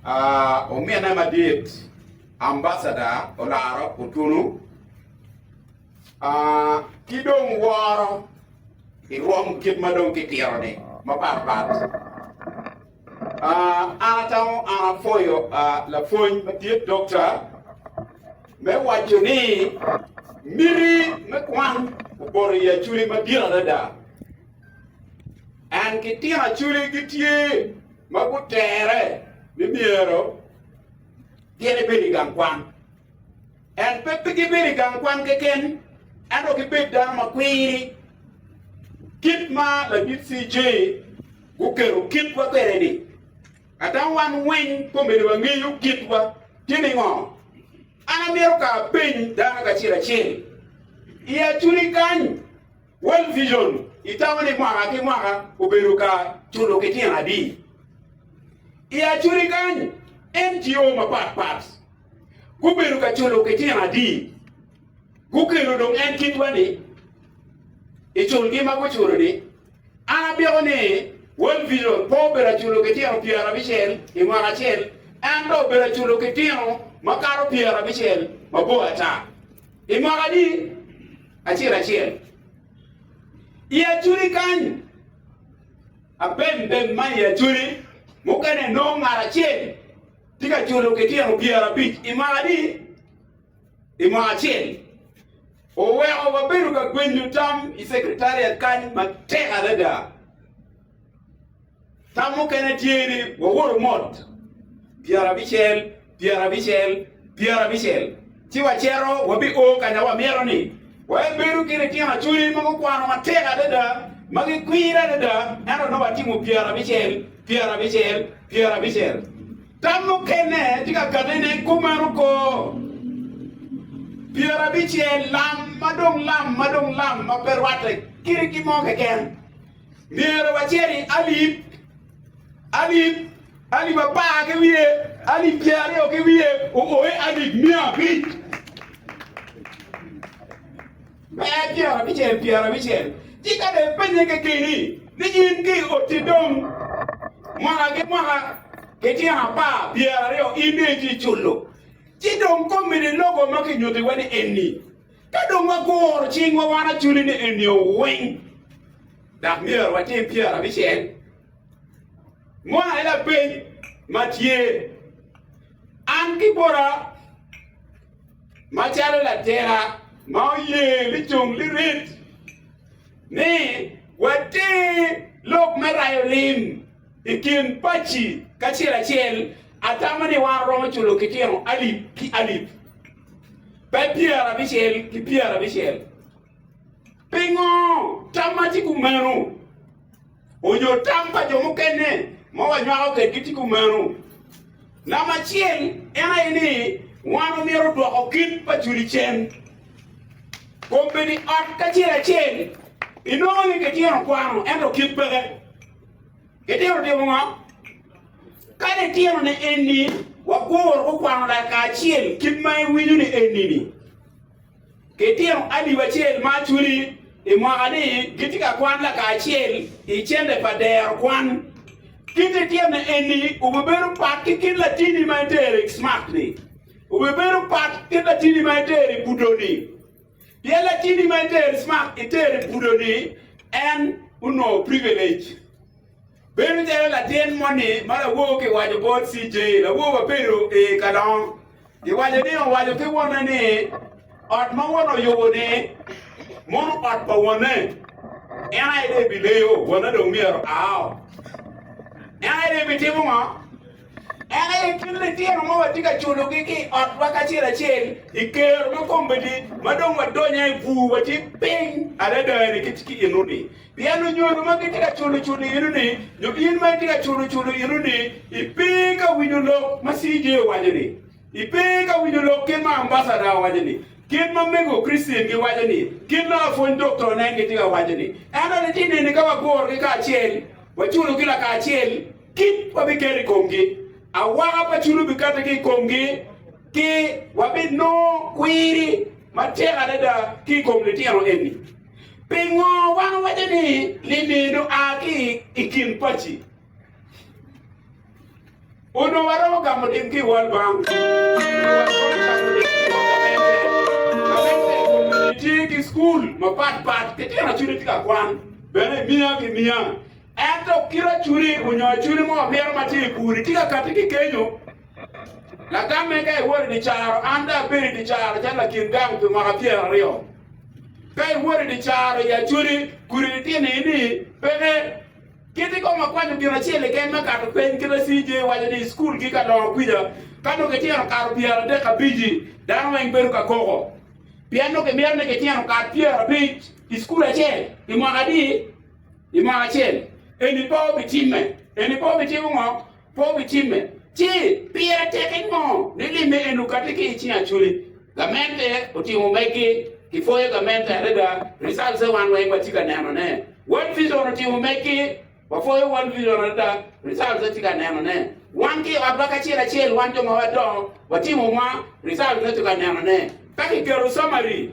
Uh, omine madit ambasada olaro otunu uh, ki dong woro i rwom kit ma dong kitiro-ni mapatpat uh, an atamo an apwoyo uh, lapwony madit dokta me waco ni miti me kwan opoto i aculi madit adada En ki tyen acoli gitye ma gutere ni myero gin ebed i gang kwan. En pe pe gibedo i gang kwan keken, ento gibed dano ma kwiri. Kit ma ladit CJ guketo kitwa kwede-ni, ada wan weng komedo wangeyo kitwa tye ningo? An amito ka apeny dano kacel acel i acoli kany. World Vision itamo ni mwaka ki mwaka obedo ka culo ki tyen adi? I Acuri kany, NGO mapat pat gubedo ka culo ki tyen adi? Gukelo dong en kitwa ni i culgi ma guculo ni, An apiko ni World Vision pe obedo aculo ki tyeno pyera abicel i mwaka acel, ento obedo aculo ki tyeno makato pyera abicel mabor ata. I mwaka-ni acel acel, i acholi kany, abembem ma i acholi mukene nongo ngat acel tye ka culo ki tyeno pyera abic i mwaka-ni i mwaka acel. Oweko wabedo ka gwenyo tam i Secretariat kany matek adada. Tam mukene tye ni wawoto mot pyerabicel, pyerabicel, pyerabicel, ci wacito wabio ka ma wamito ni wabedo ki litino acholi ma gukwano matek adada, ma gikwir adada, ento nongo watimo pyerabicel, pyerabicel, pyerabicel. Tam mukene tye ka kati ni kumeno koo. Pyerabicel lam ma dong lam ma dong lam ma pe rwatte kit ki mo keken. Myero wacer i alip, alip, alip apar ki wiye, alip pyer aryo ki wiye, ooe alip mia abic. Pe pyer abicel, pyer abicel. Ci ka dong ipenye kekeni ni in ki i otti dong mwaka ki mwaka ki tyen apar pyer aryo in dong itye culo, ci dong komi ni logo ma kinyutiwa ni enni. Ka dong waguro cingwa wan acoli ni enio weng, dok myero watim pyera abicel, moni aye lapeny ma tye, An ki bota macalo latira ma oye licung lirit ni water lok me rayo lim i kin paci kacel acel, atamo ni wan romo culo kitino alip ki alip. pe pyerabicel ki pyerabicel. Pingo tam ma tye kumeno onyo tam pa jo mukene ma wanywako kwedgi tye kumeno? Namba acel en aye ni wan omyero odwoko kit pa culicen. Kombeddi ot kacel acel inongo ni kitino kwano ento kit peke. Itito timo ngo? Kadi itito ni enni, waguru gukwano lakacel kit ma iwinyo ni enni-ni. Kitino alip acel ma acweli i mwaka-ni gitye ka kwan lakacel i cente pa dero kwan. Kit itito ni enni obibedo pat ki kit latini ma itero i Smart-ni. Obibedo pat kit latini ma itero i Budo-ni. Pien lacini ma iter smak iter i pudo-ni, en onongo privilege. Bedo calo latin moni ma lawogo ki waco bot CJ, lawogo ma bedo i kalongo, i waco ni owaco ki wonne ni, Ot ma wona oyubo-ni, mono ot pa wonne. En aye dong ebileyo, wona dong myero ao. En aye dong ebitimo ngo? En aye kit litino ma watye ka culogi ki i otwa kacel acel i kero me kombeddi ma dong wadonyo i bur, watye piny adada-ni ki i eno-ni. Pien lunyodo ma gitye ka culo cul i eno-ni, nyo in ma itye ka culo cul i eno-ni, ipe ka winyo lok ma CJ owaco-ni? Ipe ka winyo lok kit ma ambacada owaco-ni, kit ma mego Kricen giwaco-ni, kit ma lapwony doktonen gitye ka waco-ni? Ento litino eni ka wagurogi kacel, waculogi lakacel, Kit ma biketo i komgi. Awaka pa culu bikate ki i komgi, ki wabinongo kwiri matek adada ki i kom litino eni. Pingo wan wawaco ni lim-mi onongo a ki i kin paci? Onongo waromo gamo lim ki i wal bang, onongo waromo cako lim ki i wot gamente. Gamente i kom lim-mi tye ki cukul mapatpat, litino acude tye ka kwan bene miya ki miya. Ento kite cuni onyo cuni mo omito ma tye i gudi tye ka kati ki kenyo. Lagamme ka iwoto i dye caro, an dong abedo i dye caro calo lakin gang pi mwaka pyera aryo. Ka iwoto i dye caro i Acholi, gudi litino i ni peke. Kiti kong akwanyo gin acel keken me kato peny kite CJ waco ni i school gi ka dongo kwica ka nongo kityeno kato pyera adek abici dano weng bedo ka koko pien nongo kimito ni kityeno kat pyera abic i school acel i mwaka adi? I mwaka acel eni pe obitimme. Eni pe obitimo ngo? Pe obitimme. Ci, pire teke ngo ni limme eni okati ki i cing Aculi? Gamente otimo megi. Kipwoyo gamente adada. Results-te wan weng watye ka nenone. World Vision otimo megi. Wapwoyo World Vision adada. Results-te watye ka nenone. Wan ki i otwa kacel acel, wan jo ma wadongo, watimo mwa. Results-te watye ka nenone. Ka kiketo summary.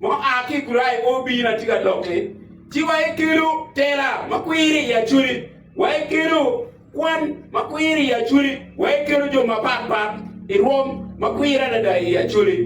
mo a ki i kurayo pe obino atye ka lokke, ci wa ikelu tela ma kwiri i aculi, wa ikelu kwan ma kwiri i aculi, wa ikelu jo mapat pat i rwom ma kwiri adada i aculi,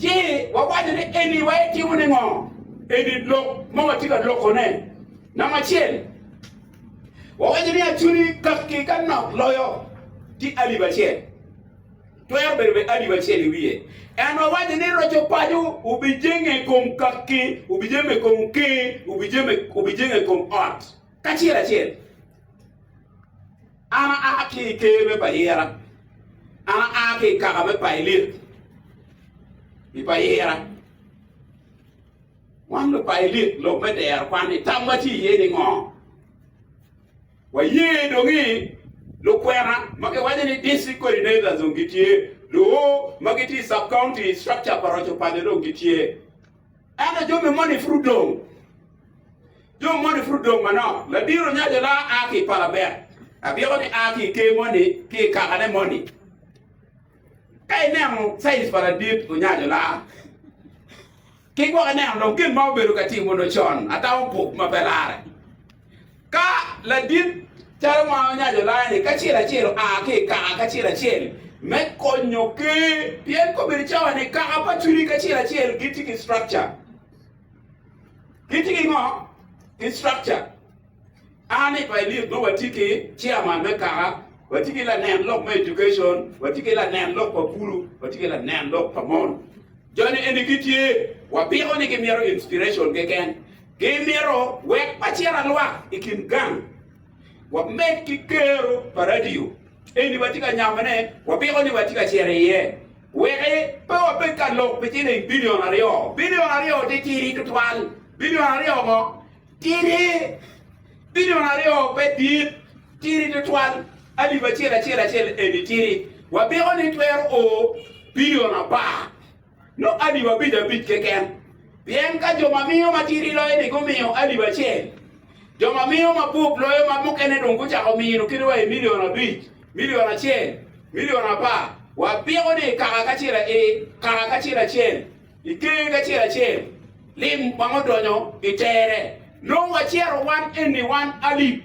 ci wawaco ni, 'Eni wa itimo ni ngo? Eni lok ma watye ka lokone. Namba acel, wawaco ni aculi kakki ka nok loyo tye alip acel. Twero bedo bene alip acel i wiye. En owaco ni roco paco obijenge i kom kakki, obijeme i kom ker, obijeme, obijenge i kom ot kacel acel. An aa ki i ker me Payira, an aa ki i kaka me Pailit i Payira. Wan Lupailit, lok me dero kwan-ni, tamwa tye iye ningo? Waye dong ni lukwena ma kiwaco ni District Coordinators dong gitye, luo ma gitye i Sub-County Structure Aparac opaco dong gitye. Ento jo me moni pud odong. Jo me moni pud odong manok. Ladiro nyaco la a ki i Palabek, abyeko ni a ki i ker moni ki i kakane moni. Ka ineno size pa ladit onyaco la. Ki gwok ineno dong gin ma obedo ka timo nyo con ata opuk ma pe larre. Ka ladit calo ma onyaco layani kacel acel oa ki i kaka kacel acel me konyo ker, pien kobedo cawa ni kaka pa cwiny kacel acel gitye ki structure, gitye ki ngo? Ki structure. An i Pailik nongo watye ki chairman me kaka, watye ki lanen lok me education, watye ki lanen lok pa pulu, watye ki lanen lok pa mon. Jo-ni eni gitye, wapiko ni gimito inspiration keken. Gimito wek wacira lwak i kin gang, wamed ki kero pa radio eni watye ka nyamone, wapiko ni watye ka cito iye wek pe wabed ka lok pi ciling bilion aryo. Bilion aryo tye ciri tutwal. Bilion aryo ngo? Tiri, Billion aryo pe dit, tiri tutwal alip acel acel acel eni tiri. Wapiko ni twero o billion apar nyo alip abic abic keken. Pien ka jo ma miyo ma tiri loyo-ni gumiyo alip acel, jo ma miyo ma bup loyo ma mukene dong gucako mino kit wa i million abic, million acel, million apar. Wapiko ni kaka kacel acel. I genge acel acel, lim wang odonyo i tere. Nongo wacero wan eni wan alip.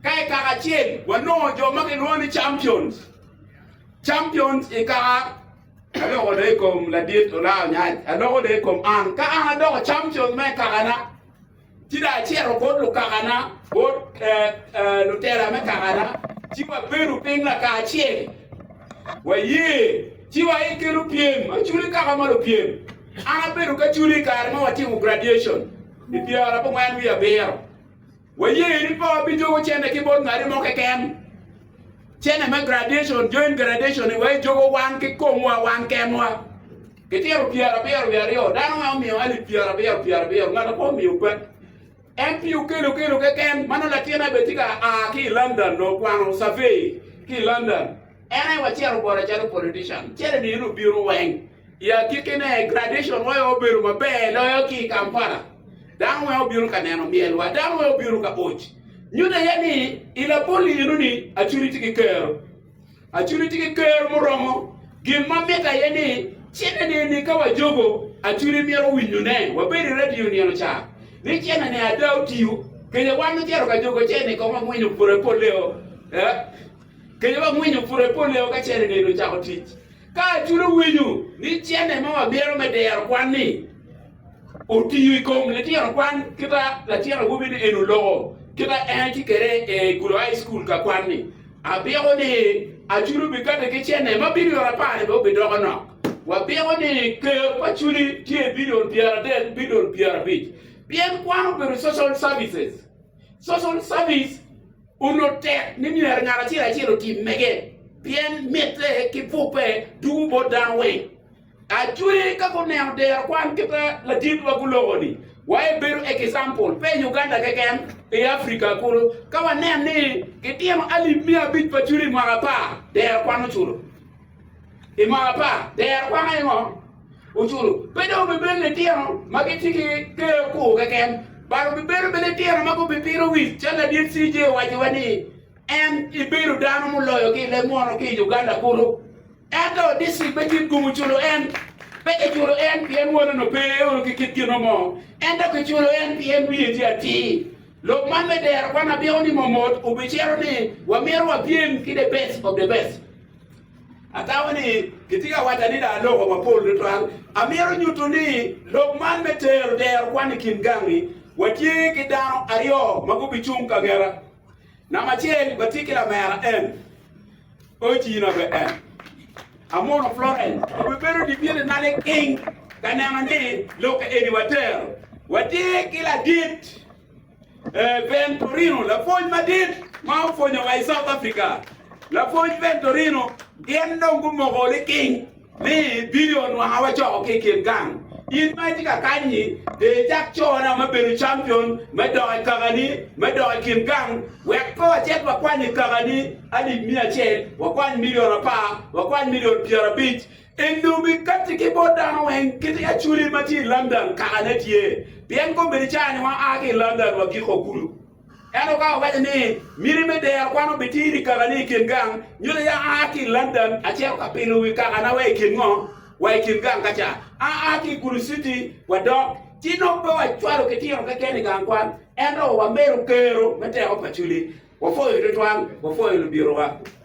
Ka i kaka acel, wanongo jo ma kilwongo ni champions. Champions i kaka aloko dong i kom ladit Olaa Onyaj, aloko dong i kom an. Ka an adoko champions ma i kakana, Ci dong acito bot lukakana, bot lutela me kakana, ci wabedo piny lakacel, waye, ci wayikke lupyem. Aculi kaka ma lupyem, an abedo ki aculi i kare ma watimo graduation i pyera abongwen wiye abiro. Waye ni pe wabijogo cente ki bot ngati mo keken. Cente me graduation, join graduation-ni wajogo wan ki komwa wan kenwa. Gitino pyerabiro wiye aryo, dano ma omiyo alip pyerabiro pyerabiro, ngat mo pe omiyo pek. En pi okelo kelo keken, ma nongo latinna bene tye ka a ki i London nongo okwano survey ki i London. En aye wa cito bota calo politician, calo i nino-ni obino weng. I agikki-ne, graduation wa aye obedo maber loyo ki i Kampala. Dano weng obino ka neno myelwa, dano weng obino ka oc. Nyutte iye ni, i labol nino-ni, Acwiny tye ki kero. Acudu tye ki ker muromo. Gin ma mitte aye ni cene nini ka wajogo acudu myero winyo ne wabedo i radio nino ca ni cene ne ada otiyo kenya wan ocito ka jogo cene kong wangwinyo pure poleo kenya wangwinyo pure poleo ka cene nini ocako tic ka acudu winyo ni cene ma wamyero me dero kwan ni otiyo i kom litino kwan kita latin awobi ni en oloko kita en tye kede i Gudo High School ka kwan ni abiko ni Aculu bi kati ki cene ma bidio apar ni bene obidoko nok. Wabiko ni Ker pa Aculi tye i bidio pyera adek ki bidio pyera abic pien kwan obedo social services. Social service onut tek ni myero ngat acel acel otim mege pien mitte ki pube dugu bot dano weng. Actually ka guneno dero kwan ki pe ladit wa guloko ni wa e bedo example pe i Uganda keken i Africa kulu ka wanen ni ki tino alip miya abic pa culi i mwaka apar dero kwan oculo i mwaka apar dero kwan aye ngo oculo pe dong bi bedo ni tino ma ki tye ki ker ku keken but obi bedo bene tino ma gubi pino wic calo ladit CJ owaco wa ni En ibido dano muloyogi i leb mwono ki i Uganda kulu. Ento distrik pe tye gumu culo en. Pe kiculo en pien wonone pe oro ki kit gino mo, ento kiculo en pien wiye tye atir. Lok man me dero kwan abiko ni momot obicito ni wamito wapyem ki the best of the best. Atamo ni kitye ka waco adada aloko mapol tutwal. Amito nyuto ni lok man me tero dero kwan i kin gangi, watye ki dano aryo ma gubicung ka ngeta. Namba acel watye ki lamera en Oji na be en amono Florence obe bedo dipyele nale king ka neno ni lokke eni watero. Watye ki ladit eh, Ventorino lapwony madit ma opwonyowa i South Africa. Lapwony Ventorino gin dong gumoko liking Ni, Bino onwanga wacoko ki i kin gang. In ma itye ka kany-nyi, de icak cona me bedo campion me dok i kakani me dok i kin gang. Wek pe wacit wakwany i kakani alip miya acel, wakwany milion apar, wakwany milion pyerabic. En dong bikatti ki bot dano weng kit i aculi ma tye i London kakane tye, pien kombeddi ca-ni waa ki i London wagiko kulu. Ento ka wawaco ni, 'Miti me dero kwan obitiri i kakani i kin gang, nyuto ya aa ki i London acito ka pilo wi kakana wa i kin ngo? Wa i kin gang ka ca. Aa ki i Gulu Citi wadok. Ci nongo pe wacwalo kitino keken i gang kwan, ento wamelo kero me teko pa Culi. Wapwoyo tutwal, wapwoyo lubirowa.